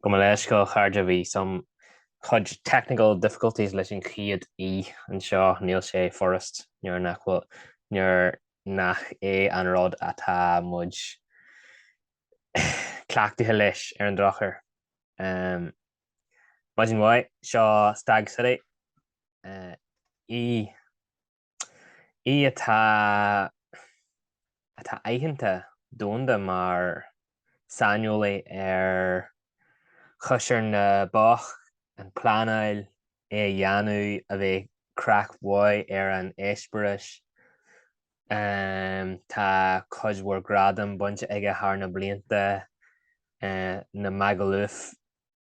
Gabh mo leithscéal, a chairde, bhí some cuid technical difficulties leis an chéad í anseo, níl sé furasta nuair nach bhfuil, nuair nach é an rud atá muid cleachtaithe leis, ar an drochuair. Maidin mhaith, seo Stag City, E. é atá atá aitheanta domhanda mar saineolaí ar chóisir na bpoc, an pleanáil, é a dhéanamh, a bheith craic mhaith ar an eispéireas. Tá cuid mhór gradam bainte aige thar na blianta, na Magaluf.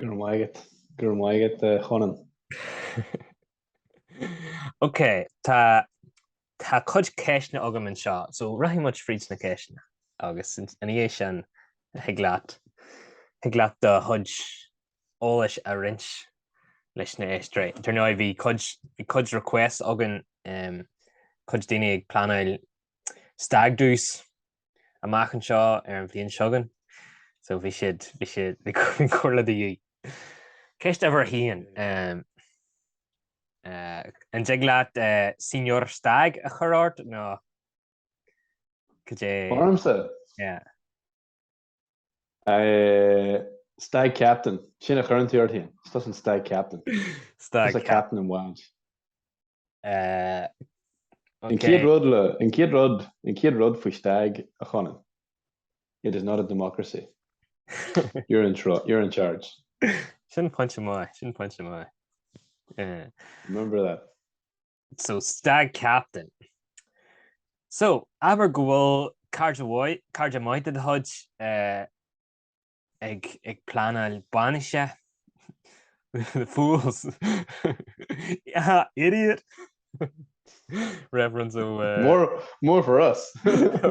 Go raibh maith agat. Go raibh maith agat a Chonáin. Ok, tá tá cuid ceisteanna agam anseo, so rachaidh muid fríd na ceisteanna agus ina dhiaidh sin thig leat thig leat do chuid eolais a roinnt leis na héisteoirí. Dar ndóigh bhí cuid bhí cuid requests againn, em, cuid daoine ag pleanáil stag do's amach anseo ar an bhliain seo chugainn. So bhí siad, bhí siad, bhí comhairle de dhíth. Ceist uimhir a haon, an dtig leat Señor Stagg a chur ort nó cad é? Ormsa. Yeah. Stag captain. Sin a chuireann tú ort féin. Is tusa an stag captain. Stag captain. Tá captain an bhaint. An chéad rud le, an chéad rud, an chéad rud faoi stag, a Chonáin, it is not a democracy. You're in charge, you're in charge. Sin pointe maith, sin pointe maith. Remember that. So stag captain. So, abair go bhfuil cara maith, cara maith de do chuid ag, ag pleanáil bainise, the fools, yeah, idiot, reference ó eh, More, more for us.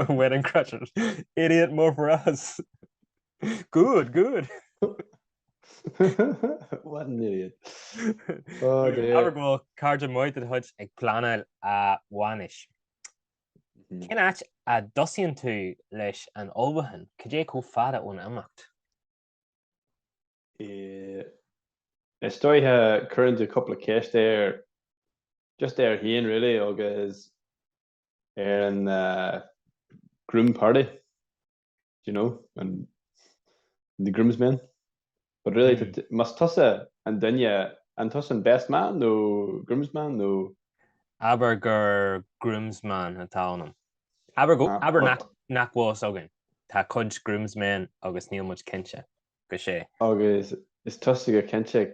Wedding Crashers, idiot, more for us, good, good. What an idiot. Oh dear. Abair go bhfuil cara maith de do chuid ag pleanáil a bhainis. Mhm. Cén áit a dtosaíonn tú leis an ullmhúchán? Cad é chomh fada ón imeacht? Eh, is dóiche cuireann tú cúpla ceist air, just air féin really, agus ar an groom party, do you know, an the groomsmen, but really tá, más tusa an duine, an tusa an best man nó groomsman nó. abair gur groomsman atá ionam, abair go, abair nach, nach bhfuil fhios againn, tá cuid groomsmen agus níl muid cinnte go sé. agus is tusa go cinnte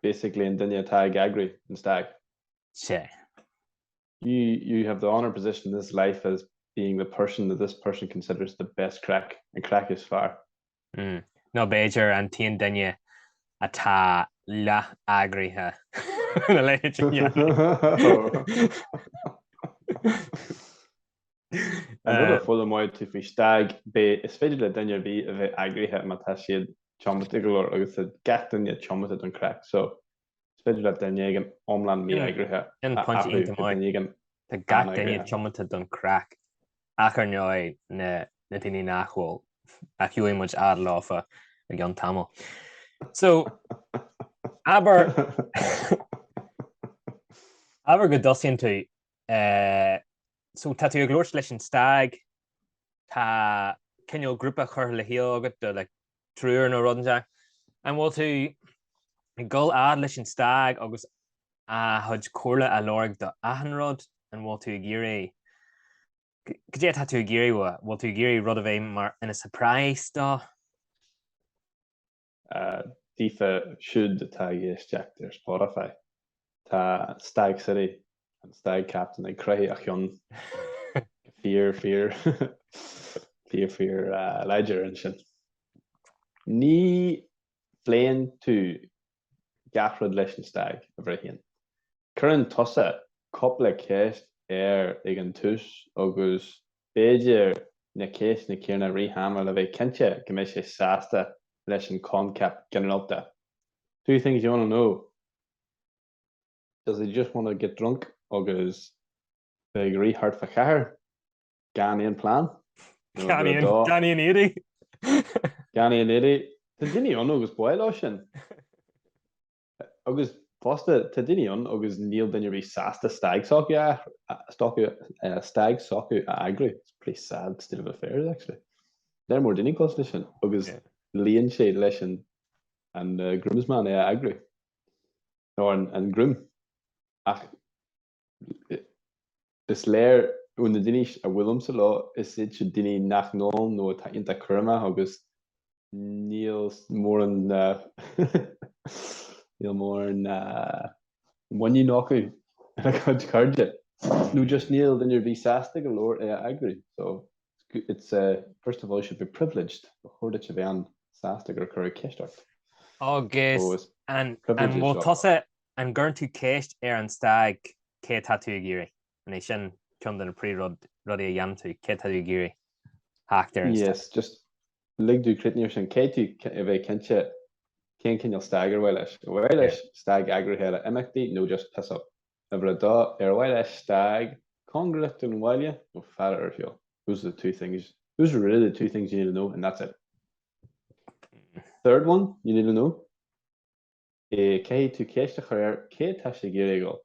basically an duine atá ag eagrú an stag. Sea. You you have the honour position in this life as being the person that this person considers the best craic, an craic is fearr. Mm. Nó b'fhéidir an t-aon duine atá leath-eagraithe ina leithéid de gheansaí. An rud a foghlaimeoidh tú faoi stag, ná is féidir le duine ar bith a bheith eagraithe má tá siad tiomanta go leor agus tá gach duine tiomanta don craic. So, Is féidir le duine éigin iomlán mí-eagraithe a athrú go duine éigin Tá gach duine tiomanta don craic, ach ar ndóigh na daoine nach bhfuil, a rachaidh muid a fhad leo fá cheann tamaill. So, abair, abair go dtosaíonn tú, so tá tú ag labhairt leis an stag, tá cineál grúpa curtha le chéile agat do like triúr nó rud inteacht. An bhfuil tú ag gabháil a fhad leis an stag agus a chuid comhairle a lorg do achan rud? An bhfuil tú ag iarraidh, cad é atá tú ag iarraidh uaidh? An bhfuil tú ag iarraidh rud a bheith mar ina surprise dó? Daofa siúd atá ag éisteacht ar Spotify, tá Stag City an stag captain ag croitheadh a chinn go fíor fíor fíor fíor láidir ansin. Ní phléann tú gach rud leis an stag, a Bhréithín. Cuireann tusa cúpla ceist air ag an tús agus b'fhéidir na ceisteanna céanna i rith ama a bheith cinnte go mbeidh sé sásta leis an choincheap ginearálta, two things you want to know. Does he just want to get drunk agus bheith ag rith thart fá chathair gan aon plean? Gan aon, gan aon éadaí. Gan aon éadaí. Tá daoine ann agus b'áil leo sin. Agus fosta, tá daoine ann agus níl duine ariamh sásta stag s'acu a athrú, stag s'acu a eagrú. It's a pretty sad state of affairs, actually. Níl mórán daoine cosúil leis sin agus luíonn sé leis an groomsman é a eagrú. nó an groom, ach is léir ó na daoine a bhuailimse leo, is iad siúd na daoine a n-ólann nó atá iontach cúramach agus níl mórán muiníne acu ina gcuid cairde, nó just níl duine ar bith sásta go leor é a eagrú. It's a, first of all you should be privileged, ba chóir duit a bheith an, sásta gur cuireadh ceist ort. Agus an, an bhfuil tusa an gcuireann tú ceist ar an stag cad é atá tú ag iarraidh? An é sin ceann de na príomhrud, rudaí a dhéanann tú, cé atá tú ag iarraidh theacht ar an stag? Yes, just lig dom cuimhneamh ar sin, caithfidh tú a bheith cinnte cén cineál stag ar mhaith leis. An mhaith leis stag eagraithe le himeachtaí nó just piss up? Uimhir a dó, ar mhaith leat stag cóngarach don bhaile nó fada ar shiúl? Those are the two things, those are really the two things you need to know and that's it. Third one you need to know, caithfidh tú ceist a chur air cé atá sé ag iarraidh a dhul.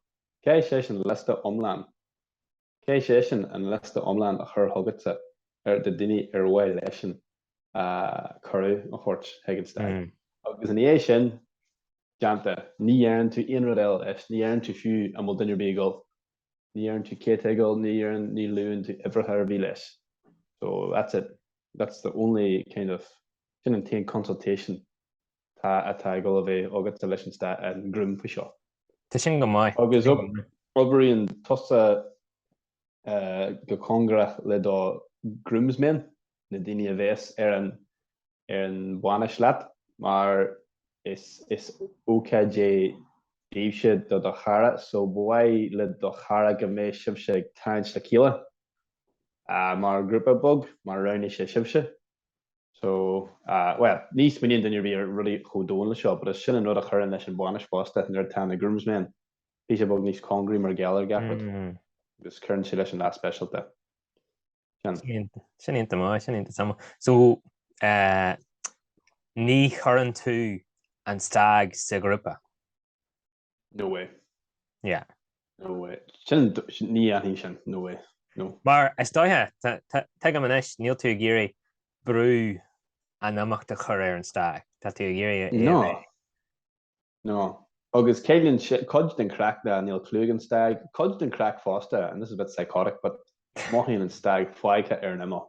Caithfidh seisean liosta iomlán. Caithfidh seisean an liosta iomlán a chur chugatsa ar na daoine ar mhaith leisean cuireadh a thabhairt chuig an stag. Agus ina dhiaidh sin déanta, ní dheireann tú aon rud eile leis, ní dheireann tú fiú an bhfuil duine ar bith ag dul, ní dheireann tú cé tá ag dul, ní dheireann, ní luann tú uimhreacha ar bith leis. So that's it, that's the only kind of, sin an t-aon consultation atá ag dul a bheith agatsa leis an stag an groom faoi seo. Tá sin go maith. Agus oibríonn tusa go cóngarach le do Groomsmen, na daoine a bheas ar an ar an bhainis leat, mar is is ócáid é daoibhse do do chara, so ba mhaith le do chara go mbeadh sibhse ag tarraingt le chéile mar ghrúpa beag, mar roghnaigh sé sibhse. So, ah, bhuel, ní smaoiníonn duine ar bith ar rudaí chomh domhain le seo, but is sin an rud a chuireann leis an bhainis fosta, nuair atá na groomsmen, píosa beag níos cóngaraí mar gheall ar gach rud, agus cuireann sé leis an lá speisialta. Sin. Sin iontach maith, sin iontach domhain. So, eh, ní chuireann tú an stag sa ghrúpa? No way. Yeah. No way. Sin, ní dhéanfainn sin. No way. No. Mar is dóiche, tuigim anois, níl tú ag iarraidh brú an imeachta a chur ar an stag. Tá tú ag iarraidh é a bheith. No. No. Agus ciallaíonn sin, cuid den chraic ná níl clue ag an stag, cuid den chraic fosta, and this is a bit psychotic, but mothaíonn an stag fágtha ar an imeall.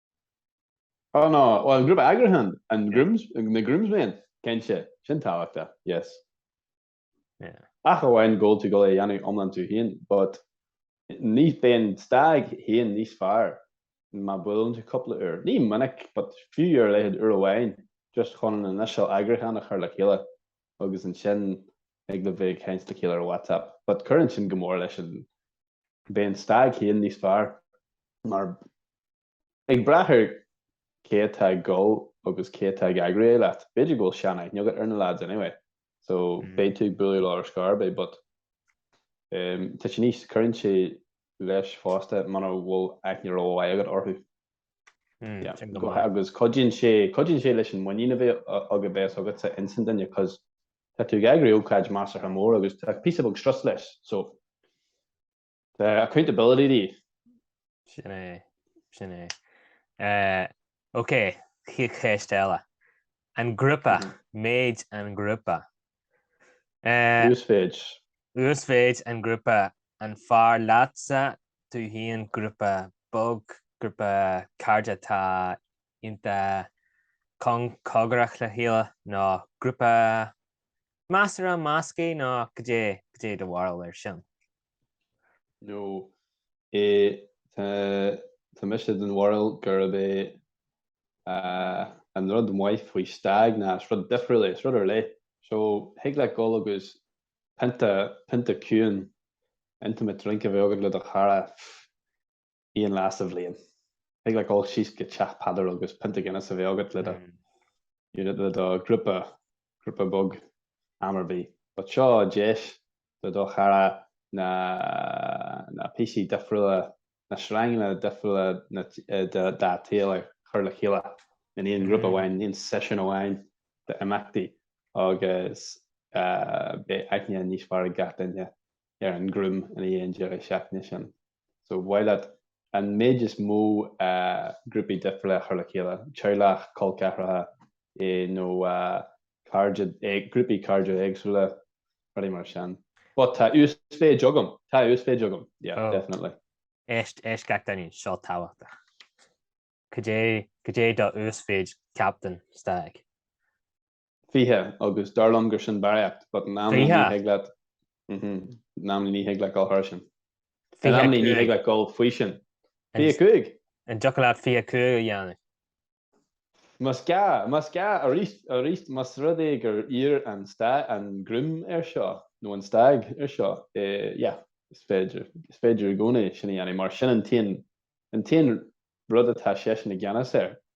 Oh no, bhuel an grúpa eagraithe, an grúm, na groomsmen, cinnte, sin tábhachtach, yes. Yeah. Ach amháin gabháil tú gabháil é a dhéanamh iomlán tú féin, but bíonn an stag féin níos fearr má bhuaileann tú cúpla uair, ní minic, but fiú ar a laghad uair amháin, just chun an initial eagrúchán a chur le chéile, agus ansin thig libh bheith ag caint le chéile ar WhatsApp, but cuireann sin go mór leis an, bíonn stag féin níos fearr mar Ag brath ar cé atá ag gol agus cé atá ag eagrú é leat, b'fhéidir go bhfuil sean-aithne agat ar na lads anyway, so b'fhéidir tú ag bualadh leo ar scor ar bith, but tá sé níos, cuireann sé leis fosta mura bhfuil aithne ró-mhaith agat orthu. Yeah, agus cuidíonn sé, cuidíonn sé leis an muinín a bheith agat, a bheas agatsa ins an duine, 'cause tá tú ag eagrú ócáid measartha mór agus tá píosa beag strus leis, so. Tá accountability díobh. Sin é, sin é. OK, ceist eile. An grúpa, méid an grúpa. Uasmhéid. Uasmhéid an grúpa, an fearr leatsa tú féin grúpa beag, grúpa cairde atá iontach cóngarach le chéile nó grúpa Measartha measctha nó goidé goidé do bharúil air sin. nó é tá tá mise den bharúil gurb é an rud maith faoi Stag ná is rud difriúil é, is rud ar leith. So, thig leat dul agus pionta, pionta ciúin intimate drink a bheith agat le do chara, pff. aon lá sa bhliain. Thig leat dul síos go Teach Peadar agus pionta Guinness a bheith agat le do unit, le do ghrúpa, grúpa beag, am ar bith. But seo deis le do chara na na píosaí difriúla, na sreanganna difriúla dá shaol a chur le chéile in aon ghrúpa amháin, in aon seisiún amháin d'imeachtaí agus beidh aithne níos fearr ag gach duine ar an ghrúm ina dhiaidh an deireadh seachtaine sin. so ba mhaith leat an méid is mó grúpaí difriúla a chur le chéile, teaghlach, col ceathracha, nó cairde, grúpaí cairde éagsúla, rudaí mar sin. But tá uasmhéid agam, tá uasmhéid agam, yeah, oh. definitely. Éist, éist gach duine, seo tábhachtach. Cad é do uasmhéid captain stag? 20, agus dar liom gur sin barraíocht, but in amannaí ní thig leat, mhm, in amannaí ní thig leat dul thar sin. In amannaí ní thig leat dul faoi sin. 25! An dtiocfadh leat 25 a dhéanamh? Más gá, más gá, arís, arís, más rud é gur iarr an stag, an groom air seo, nó an stag air seo, eh, yeah, is féidir, is féidir i gcónaí sin a dhéanamh mar sin an t-aon, an t-aon rud atá seisean i gceannas air.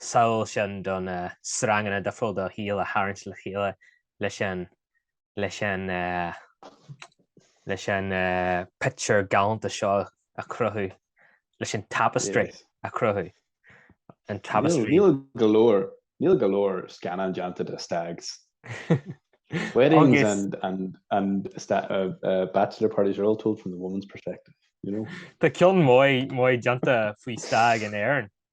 samhail sin de na sreanganna difriúla de do shaol a tharraingt le chéile leis an leis an leis an pictiúr galánta seo a chruthú leis an tapestry a chruthú an tapestry níl go leor níl go leor scannán déanta de stags, weddings and and and sta- uh, uh, bachelor parties are all told from the woman's perspective you know Tá ceann maith déanta faoi stag in Éirinn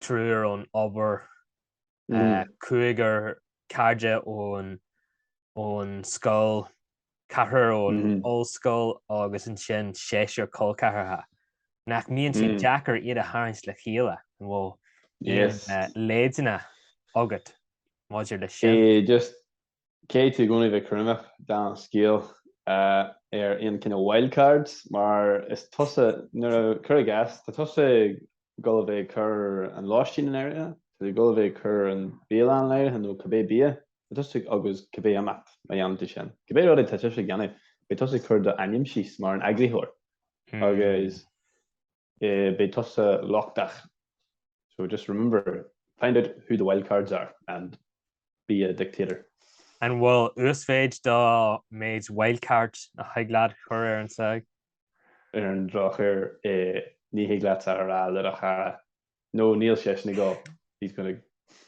triúr ón obair, cúigear carad ón scoil, ceathrar ón ollscoil agus ansin seisear col ceathracha. Nach mbíonn sé deacair iad a tharraingt le chéile, an bhfuil aon leideanna agat maidir leis sin? Caithfidh tú i gcónaí bheith cúramach, déan scaoileadh ar aon chineál wildcards mar is tusa, nuair a, cuir i gcás, tá tusa ag dul a bheith ag cur an lóistín in áirithe, tá tú ag dul a bheith ag cur an bialann in áirithe nó cibé bia, tá tusa ag, agus cibé imeacht má dhéanann tú sin, cibé rud atá tusa ag déanamh, beidh tusa ag cur do ainm síos mar an eagraitheoir agus. Eh, beidh tusa lochtach, so just remember, find out who the wildcards are and be a dictator. An bhfuil uasmhéid den mhéid wildcard a thig leat a chur ar an stag? Ar an drochuair, eh, ní thig leat a rá le do chara No, níl seisean ag dul. He's going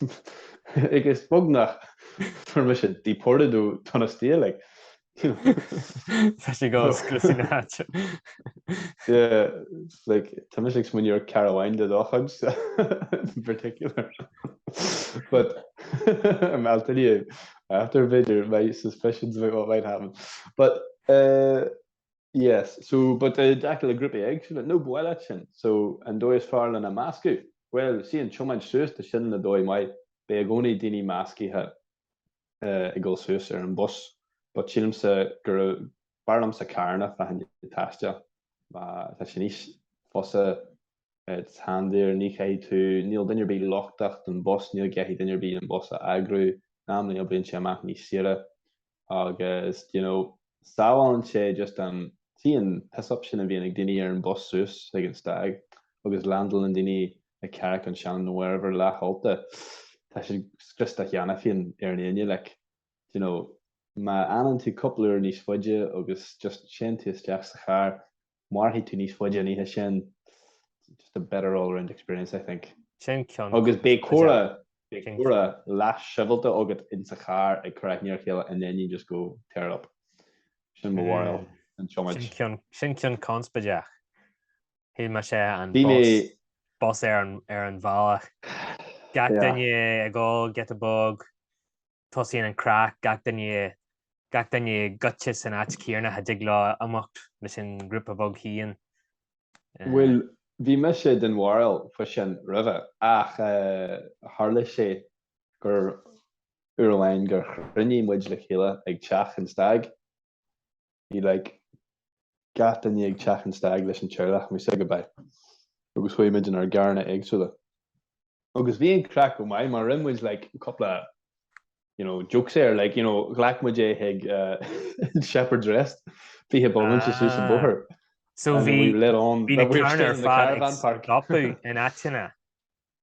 to like, is beag nach bhfuair mise deported ó Donostia, like, you know. Tá sé ag dul a scriosadh na háite. Yeah, like, tá mise ag smaoineamh ar cara amháin de do chuid, in particular. But, um, I'll tell you after, b'fhéidir, my suspicions about what might happen. But, eh, Yes, so but i dtaca le grúpaí éagsúla, nó bualadh sin, so an dóigh is fearr lena meascadh, bhuel, tá an tiomáint suas de sin ina dhóigh mhaith, beidh i gcónaí daoine meascaithe ag dul suas ar an bus but sílimse go raibh, b'fhearr liomsa carranna a fháil don taisteal, má tá sé níos fusa it's handier, ní chaithfidh tú, níl duine ar bith lochtach den bus, ní gcaithfidh duine ar bith an bus a eagrú, in amannaí oibríonn sé amach níos saoire. agus d'you know sábhálann sé just an t-aon piss-up sin a bhíonn ag daoine ar an bus suas ag an stag agus landálann daoine i gCarraig ar Sionainn wherever leathólta tá sé scriosta cheana féin ar an Aoine like d'you know má fhanann tú cúpla uair níos faide agus just téann tú isteach sa charr mairfidh tú níos faide an oíche sin, just a better all around experience I think. Agus beidh comhrá, beidh comhrá leath sibhialta agat insa charr ag cur aithne ar a chéile and then you just go tear it up. Sin mo bharúil den tiomáint. Sin ceann conspaideach. Shíl mise an bus ar an bhealach. Gach duine ag ól get a buzz, tosaíonn an craic, gach duine gach duine goite san áit chéanna ach a dtig leo imeacht leis an ghrúpa bheag féin. Bhuel, bhí mise den bharúil fosta roimhe, ach tharla sé gur uair amháin gur chruinnigh muid le chéile ag teach an Stag, Bhí like gach duine ag teach an stag leis an teaghlach and we said goodbye agus chuaigh muid in ár gcarranna éagsúla. Agus bhí an craic chomh maith mar rinne muid like cúpla you know jokes air like you know ghlac muid é chuig an Shepherd's Rest 20 bomaite suas an bóthar Ah. So and bhí we lit on bhí na carranna ar fad ag stopadh in áiteanna.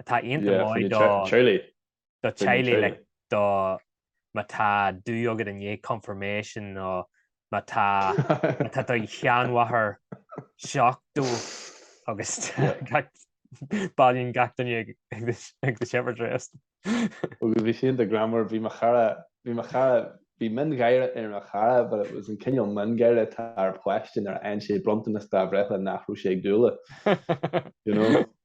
atá iontach maith do theaghlaigh le do má tá do agat i ndiaidh confirmation nó má tá má tá do sheanmháthair seachtó agus bailíonn gach duine ag the shepherd's rest. Agus bhí sí iontach greannmhar, bhí mo chara, bhí mo chara, bhí miongháire ar mo chara but it was an cineál miongháire atá ar pháiste nuair a fhaigheann sé bronntanas dá bhreithlá nach raibh sé ag dúil leis, you know.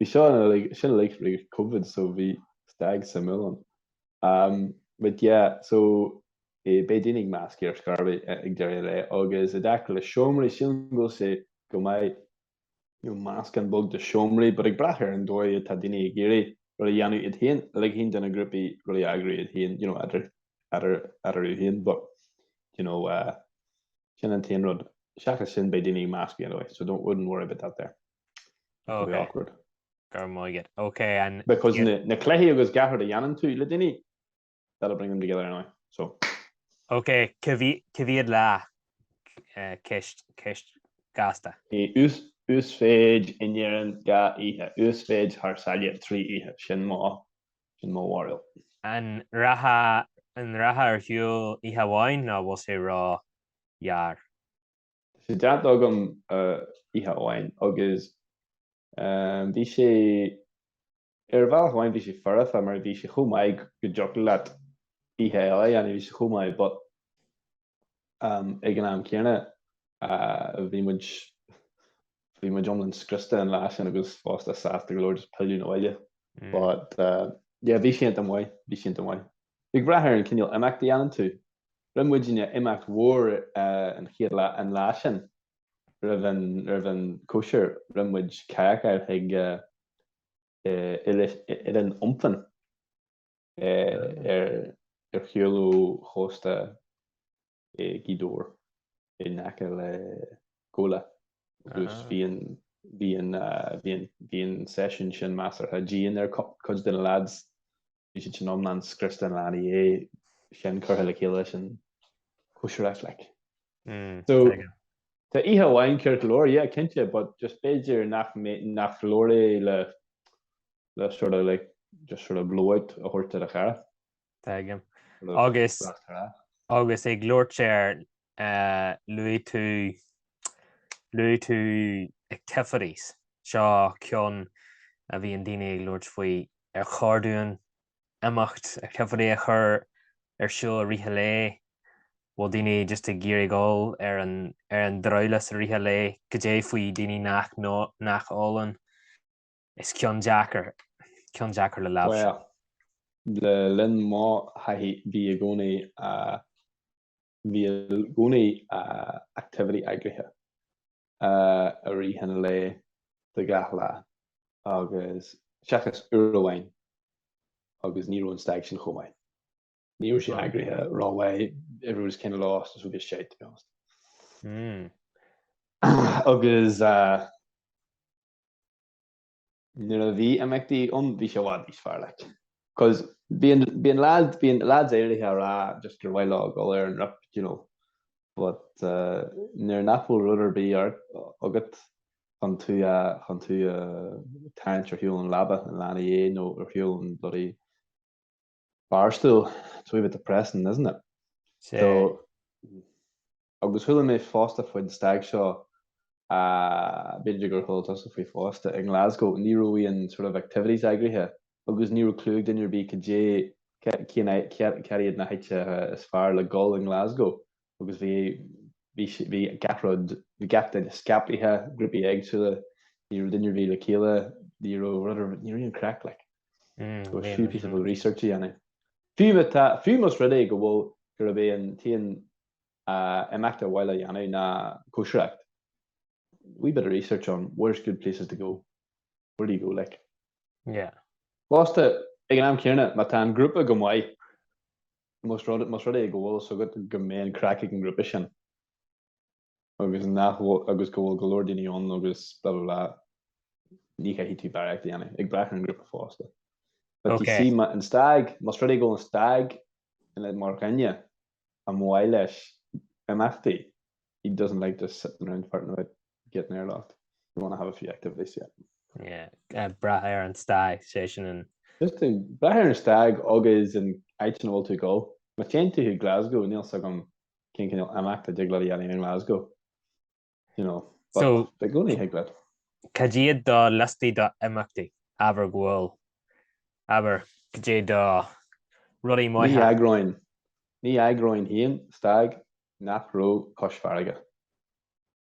Bhí seo uilig, sin uilig fríd Covid so bhí stag suimiúil ann. Ahm but yeah so eh beidh daoine ag meascadh ar scor ar bith ag deireadh an lae agus i dtaca le seomraí sílim go bhfuil sé go maith you know meascán beag de seomraí but ag brath ar an dóigh atá daoine ag iarraidh rud a dhéanamh iad féin ligean do na grúpaí rud a eagrú iad féin you know eadar eadar eadar iad féin but you know uh, sin an t-aon rud seachas sin beidh daoine ag meascadh anyway so don't wouldn't worry about that there. Very awkward. Go mba gheat. Ok and. Because na cluichí agus cibé ar a dhéanann tú le daoine, that will bring them together anyway. So. Ok, coimhead lá, ceist, ceist gasta. He ús, uasmhéid in Éirinn dhá oíche, uasmhéid thar sáile trí oíche, sin mo, sin mo bharúil. An rachfá, an rachfá ar shiúl oíche amháin nó bhfuil sé ró ghearr? Tá sé déanta agam oíche amháin agus bhí sé, ar bhealach amháin bhí sé foirfe mar bhí sé chomh maith go dtiocfadh leat oíche eile a dhéanamh, bhí sé chomh maith but ag an am céanna bhí muid, bhí muid iomlán scriosta an lá sin agus fosta sásta go leor just pilleadh 'na bhaile but yeah bhí sé iontach maith, bhí sé iontach maith. Ag brath ar an cineál imeacht a dhéanann tú, rinne muidinne imeacht mór an chéad lá, an lá sin roimh an gcóisir rinne muid kayakáil chuig oileán iontach ar shiúl ó chósta. i nGaoth Dobhair in aice le Gabhla agus bhí an seisiún sin measartha dian ar cuid de na leaids. Bhí siad sin iomlán scriosta an lá ina dhiaidh sin, curtha le chéile leis an cóisir like. So, tá oíche amháin ceart go leor, yeah, cinnte, but just b'fhéidir nach nach leor é le sort of like just sort of blowout a thabhairt do do chara. Tuigim. Agus agus ag labhairt ar eh, luaigh tú luaigh tú activities seo ceann a bhíonn daoine ag labhairt faoi ar chóir dúinn imeacht activity a chur ar siúl i rith an lae, an bhfuil daoine just ag iarraidh dul ar an ar an drabhlás i rith an lae, caidé faoi daoine nach nó nach ólann Is ceann deacair, ceann deacair le léamh. Bhuel, le linn mo thaithí bhí i gcónaí, bhí i gcónaí activity eagraithe i rith an lae do gach lá agus, seachas uair amháin agus ní raibh an stag sin chomh maith, ní raibh sé eagraithe rómhaith, everybody was kind of lost agus rubbish shite to be honest. Agus. Nuair a bhí imeachtaí ann bhí sé i bhfad níos fearr like. Cos bíonn bíonn lads bíonn lads áirithe ag rá just gur mhaith leo dul ar an rip do you know but nuair nach bhfuil rud ar bith sort of agat chun tú a chun tú a tharraingt ar shiúl ón leaba i lár an lae nó ar shiúl ón bloody Barstool, it's a wee bit depressing, isn't it? So, agus chuala mé fosta faoi an stag seo, b'fhéidir gur chuala tusa faoi fosta, i nGlasgow ní raibh aon sort of activities eagraithe agus ní raibh clue ag duine ar bith cad é, cad iad na háiteacha is fearr le dhul i nGlasgow. agus bhí bhí gach rud, bhí gach duine scaipthe, grúpaí éagsúla, ní raibh duine riamh le chéile, ní raibh rud ar, ní raibh aon craic, like. There was few pieces of research í ann. Fiú má tá, fiú más rud é go bhfuil, gurb é an t-aon imeacht ar mhaith leat a dhéanamh ná cóisireacht, wee bit of research on where's good places to go, where do you go, like. Yeah. Fosta, ag an am céanna, má tá an grúpa go maith, Más rud, más rud é go bhfuil fhios agat go mbeidh an craic ag an ngrúpa sin agus nach bhfuil, agus go bhfuil go leor daoine ann agus blah blah blah, ní chaithfidh tú barraíocht a dhéanamh, ag brath ar an ngrúpa fosta. But you see, ma, an stag, más rud é go bhfuil an stag ina, mar dhuine ar mhaith leis imeachtaí, he doesn't like just sitting around farting about. get an airlock, you want to have a few activities, yeah. Yeah, ag brath ar an stag, sé sin an. Just ag brath ar an stag agus an áit ina bhfuil tú ag dul. Má téann tú chuig Glasgow, níl fhios agam cén cineál imeachtaí a dtig leat a dhéanamh in Glasgow, you know, but so, i gcónaí thig leat. Cad iad do liostaí d'imeachtaí, abair go bhfuil, abair, cad é do rudaí maithe? Ní eagróinn, ní eagróinn féin stag nach raibh cois farraige.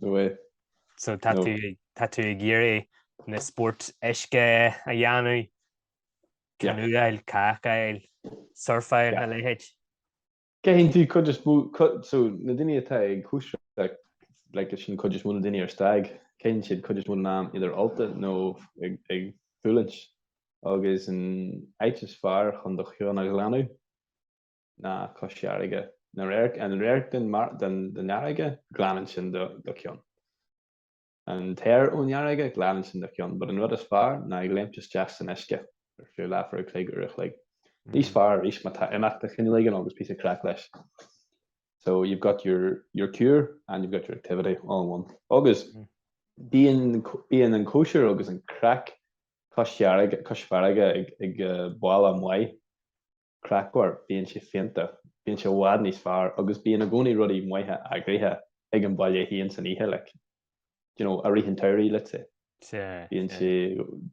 nó é. So tá tú ag, tá tú ag iarraidh na spóirt uisce a dhéanamh, canoáil, cadhcáil, surfáil a leithéid? Caitheann tú cuid is mó, so na daoine atá ag cóisir like like sin cuid is mó na daoine ar stag, caitheann siad cuid is mó den am either ólta nó ag ag fulaingt, agus an áit is fearr chun do cheann a ghlanadh ná cois farraige, na radhairc, an radharc den fharraige, glanann sin do cheann. An t-aer ón fharraige, glanann sin do cheann. But an rud is fearr ná ag léimt isteach san uisce ar feadh leathuair a chloig, uair a chloig. Níos fearr arís má tá imeacht de chineál éigin agus píosa craic leis. So you've got your your cure and you've got your activity all in one. Agus bíonn bíonn an cóisir agus an craic cois farraige cois farraige ag ag baile maith. craicmhar, bíonn sé fiánta, bíonn sé i bhfad níos fearr agus bíonn i gcónaí rudaí maithe eagraithe ag an bhaile fhéin san oíche, like, do you know, i rith an tsamhraidh, let's say. Bíonn sé,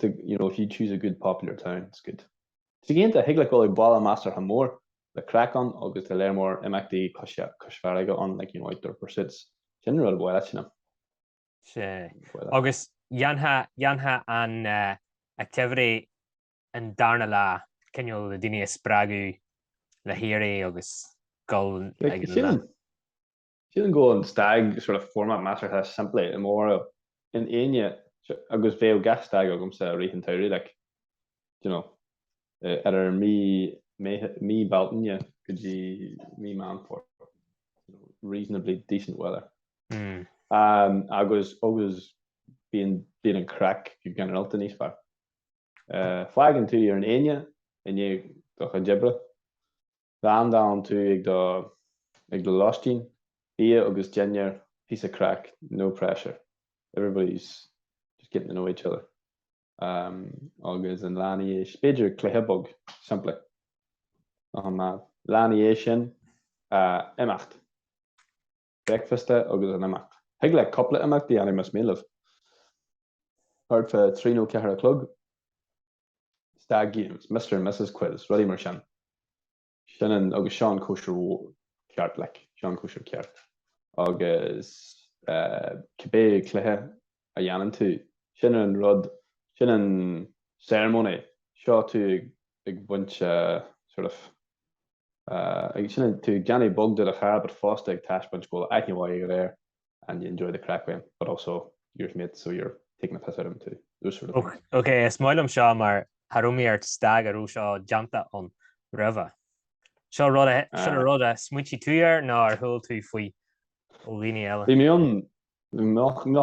do you know, if you choose a good popular town, it's good. Ag an am céanna, thig leat dul chuig baile measartha mór, le craic ann agus tá lear mór imeachtaí cois, cois farraige ann, like, you know, outdoor pursuits. Sin an rud bhaile, you know. Sea. Bhaile. Agus dhéanfadh, dhéanfadh an activity an darna lá, cineál le daoine a spreagadh le héirí agus dul ag an lucht. Sílim go bhfuil an stag sort of format measartha simplí i mo bharúil. An Aoine, agus bheadh gach stag agamsa i rith an tsamhraidh like, d'you know, ar ar mí Meitheamh, mí Bealtaine go dtí mí Meán Fómhair, reasonably decent weather. Agus, agus bíonn, bíonn an craic go ginearálta níos fearr. Fágann tú ar an Aoine i ndiaidh do chuid oibre. Landálann tú ag do ag do lóistín, bia agus dinnéar, píosa craic, no pressure, everybody's just getting to know each other. Agus an lá ina dhiaidh, b'fhéidir cluiche bog, simplí. Lá ina dhiaidh sin a imeacht. bricfeasta agus an imeacht. Thig leat cupla imeacht a dhéanamh más mian libh. Thart fá trí nó ceathair a chlog, Stag Games, Mr and Mrs Quiz, rudaí mar sin. Sin an, agus seo an cóisir mhór ceart, like, seo an cóisir ceart. Agus cibé cluiche a dhéanann tú, sin an rud, sin an ceremony, seo tú ag baint sort of. Agus sin an tú ag déanamh bog de do chara but fosta ag taispeáint go bhfuil aithne mhaith agat air and you enjoy the crack with him but also you're his mate so you're taking the piss out of him too. Úrsúil a bhí. Ok, is maith liom seo mar cha raibh mé ar stag a raibh seo déanta ann roimhe. Seo rud a, seo na rud a smaoitigh tú air nó ar chuala tú faoi ó dhaoine eile? Bhí mé ann, an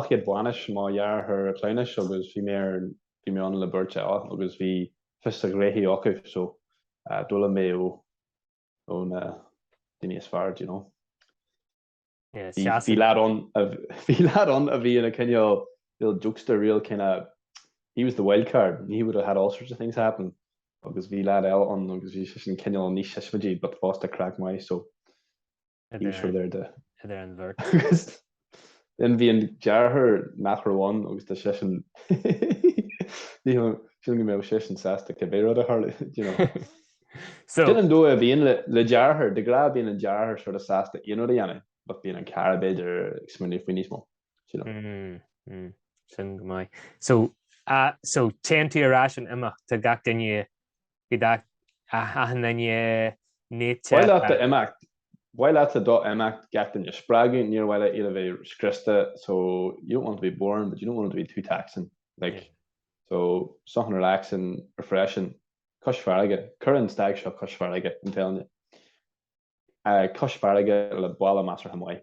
chéad bainis mo dheartháir cleamhnais agus bhí mé ar bhí mé ann le beirt eile agus bhí fios a ngraithe acu so d'fhoghlaim mé ó ó na daoine is fearr do you know bhí lad ann bhí lad ann a bhí ina chineál real jokester real kind of he was the wild card and he would have had all sorts of things happen agus bhí lad eile ann agus bhí sin cineál níos siosmaidí but fosta craic mhaith so Bhí siad ar dóigh. Idir an bheirt. Agus then bhí an deartháir nach raibh ann agus do seisean sílim go mbeadh seisean sásta cibé rud a tharlódh, you know. So. Sin an dóigh a bhíonn le deartháir, de ghnáth bíonn an deartháir sort of sásta aon rud a dhéanamh but bíonn an cara b'fhéidir ag smaoineamh faoi níos mó, you know. Mm, sin go maith. So, so téann tú ar ais an imeacht, tá gach duine Bhí dath an duine nite. Ba mhaith leat do imeacht. Ba mhaith leatsa do imeacht, gach duine a spreagadh, níor mhaith leat iad a bheith scriosta, so, you don't want to be boring, but you don't want it to be too taxing, like, so, something relaxing, refreshing, cois farraige, cuir an stag seo cois farraige, I'm telling you. Cois farraige le baile measartha maith.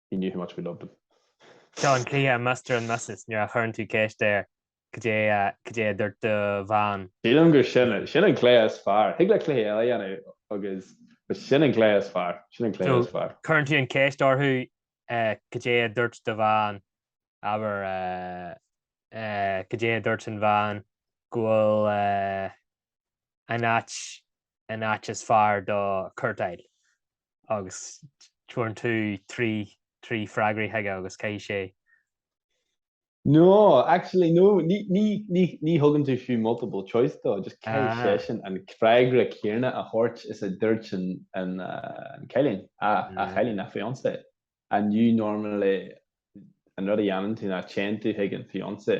He knew how much we loved him. Seo an cluiche Mr. and Mrs. nuair a chuireann tú ceist air cad é a cad é a dúirt do bhean. Sílim gur sin sin an cluiche is fearr. Thig leat cluichí eile a dhéanamh agus but sin an cluiche is fearr. Sin an cluiche is fearr. Cuireann tú an ceist orthu cad é a dúirt do bhean, abair cad é a dúirt an bhean cá bhfuil an áit an áit is fearr do cúirtéireacht agus cuireann tú trí trí freagraí chuige agus caithfidh sé. No, actually no, ní ní ní ní thugann tú fiú multiple choice dó, just caithfidh ah. seisean an freagra céanna a thabhairt is a dúirt an an uh, cailín a a mm. chailín a fiancé and you know normally an rud a dhéanann tú ná téann tú chuig an fiancé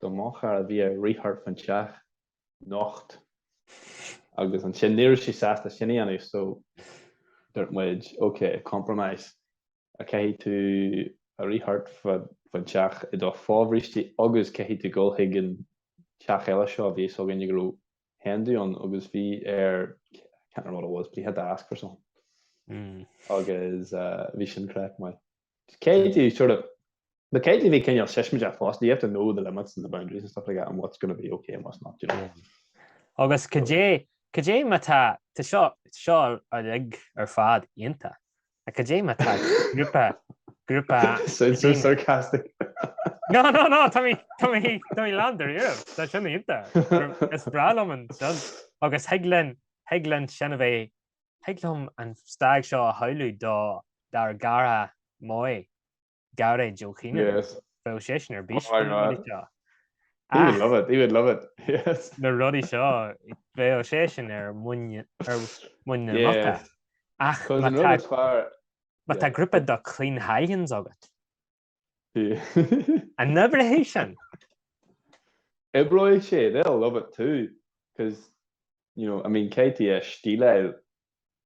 Do mo chara bhí air rith thart faoin teach nocht agus ansin ní raibh sé sásta sin a dhéanamh so dúirt muid ok, compromise, caithfidh tú rith thart faoin teach i do fhobhrístí agus caithfidh tú dhul chuig an teach eile seo a bhí a fhios againn go raibh hen do ann agus bhí air I can't remember what it was but he had to ask for something agus bhí sin craic maith. Caithfidh tú sort of But caithfidh tú bheith cineál sensitive fosta, you have to know the limits and the boundaries and stuff like that and what's going to be ok and what's not, do you know. Agus cad é, cad é má tá, tá seo, seo uilig ar fad iontach, ach cad é má tá grúpa, grúpa, Sounds so sarcastic. No, no, no, tá mé, tá mé, tá mé lán dáiríre, tá sin iontach, is breá liom sin, agus thig linn, thig linn sin a bheith, thig liom an stag seo a shamhlú do, dár gcara maith, Gearóid Ó Cianaire, bheadh seisean ar bís faoi na rudaí seo. He would love it, he would love it, yes. Na rudaí seo, bheadh seisean ar mhuin na muice. Ach má tá grúpa de clean hallions agat, an oibreoidh sé sin? Oibreoidh sé, they'll love it too, 'cause, you know, I mean, caithfidh tú a stíleáil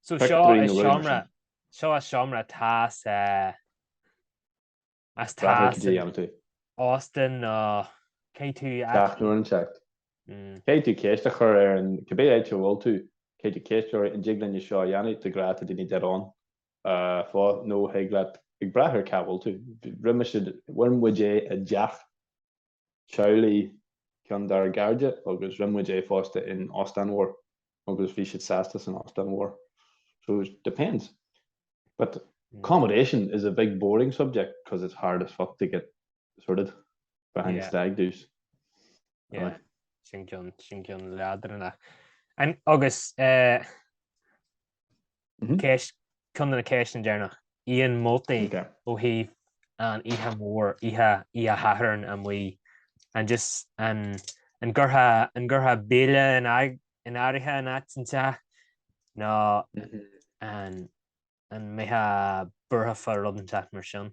So suite nó seomra, suite nó seomra tá a fhios eh, agus tá a fhios in óstán nó caithfidh tú a. Gach nuair an teacht. Caithfidh tú ceist a chur ar an, cibé áit a bhfuil tú, caithfidh tú ceist a chur, an dtig linne seo a dhéanamh, de ghnáth tá daoine dead on faoi nó thig leat, ag brath ar cá bhfuil tú, roimhe seo, rinne muid é i dteach. samhraidh ceann dár gcairde agus rinne muid é fosta in óstán mhór agus bhí siad sásta san óstán mhór. So it depends. But accommodation is a big boring subject cos it's hard as fuck to get sorted for any stag do's. Yeah, sin ceann leadránach. Agus eh, Ceist, ceann de na ceisteanna deireanach, aon moltaí ó thaobh an oíche mhóir, oíche Oíche Shathairn amuigh, an just, an, an gcuirfeá, an gcuirfeá béile in áit, in áirithe in áit inteacht, nó an, an mbeifeá buartha fá rud inteacht mar sin?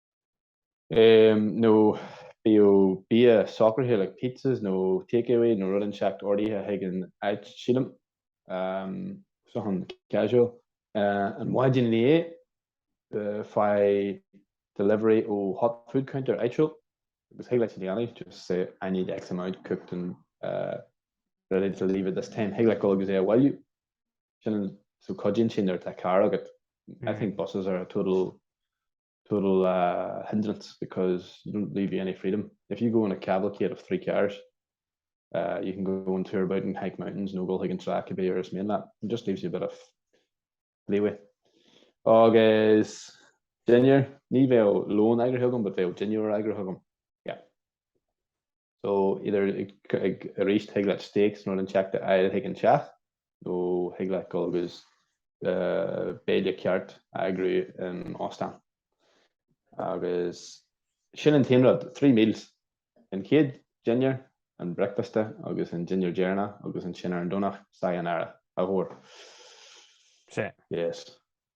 nó bíodh bia socraithe like pizzas nó take away nó rud inteacht ordaithe chuig an áit, sílim, something casual. An mhaidin ina dhiaidh, faigh delivery ó hot food counter áitiúil agus thig leat é a dhéanamh, just say I need X amount cooked and ready to leave at this time, thig leat dul agus é a bhailiú. Sin an, so cuidíonn sé nuair atá carr agat. I think buses are a total total hindrance because you don't leave you any freedom. If you go in a cavalcade of three cars you can go and tour about and hike mountains nó dul chuig an trá cibé uair is mian leat. It just leaves you a bit of leeway. Agus dinnéar, ní bheadh lón eagraithe agam but bheadh dinnéar eagraithe agam. Yeah. So, either ag, arís, thig leat steaks nó rud inteacht a fháil chuig an teach, nó thig leat dul agus béile ceart a eagrú in óstán. Agus sin an t-aon rud, three meals, an chéad dinnéar, an bricfeasta, agus an dinnéar deireanach, agus ansin ar an Domhnach, sayonara, au revoir. Sea. Yes.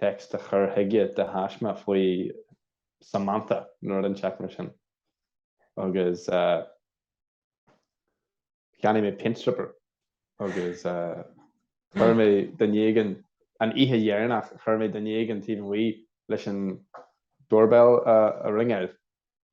text a chur chuige de thaisme faoi Samantha nó rud inteacht mar sin agus cheannaigh mé paint stripper agus chuir mé duine éigin an oíche dheireanach chuir mé duine éigin taobh amuigh leis an doorbell a ringáil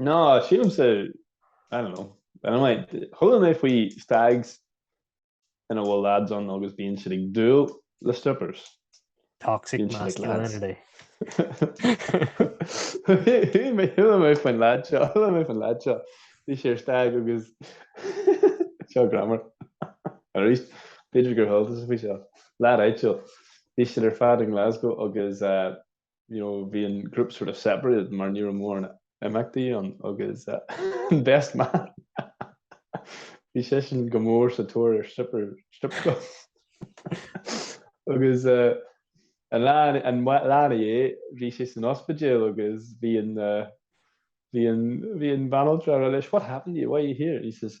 Ná sílimse, I don't know, anyway, chuala mé faoi stags ina bhfuil lads ann agus bíonn siad ag dúil le strippers. Toxic masculinity. Chuala mé faoin lead seo, chuala mé faoin lead seo. Bhí sé ar stag agus seo grammar. Arís, b'fhéidir gur chuala tú faoi seo. Lead áitiúil. Bhí siad ar fad in Glasgow agus eh, you know, bhí an group sort of separated mar ní raibh mórán imeachtaí ann agus an best man bhí seisean go mór sa tóir ar stripper strip club agus uh, an lá an lá ina dhiaidh bhí sé san ospidéal agus bhí an uh, bhí an bhí an banaltra leis what happened to you why are you here he says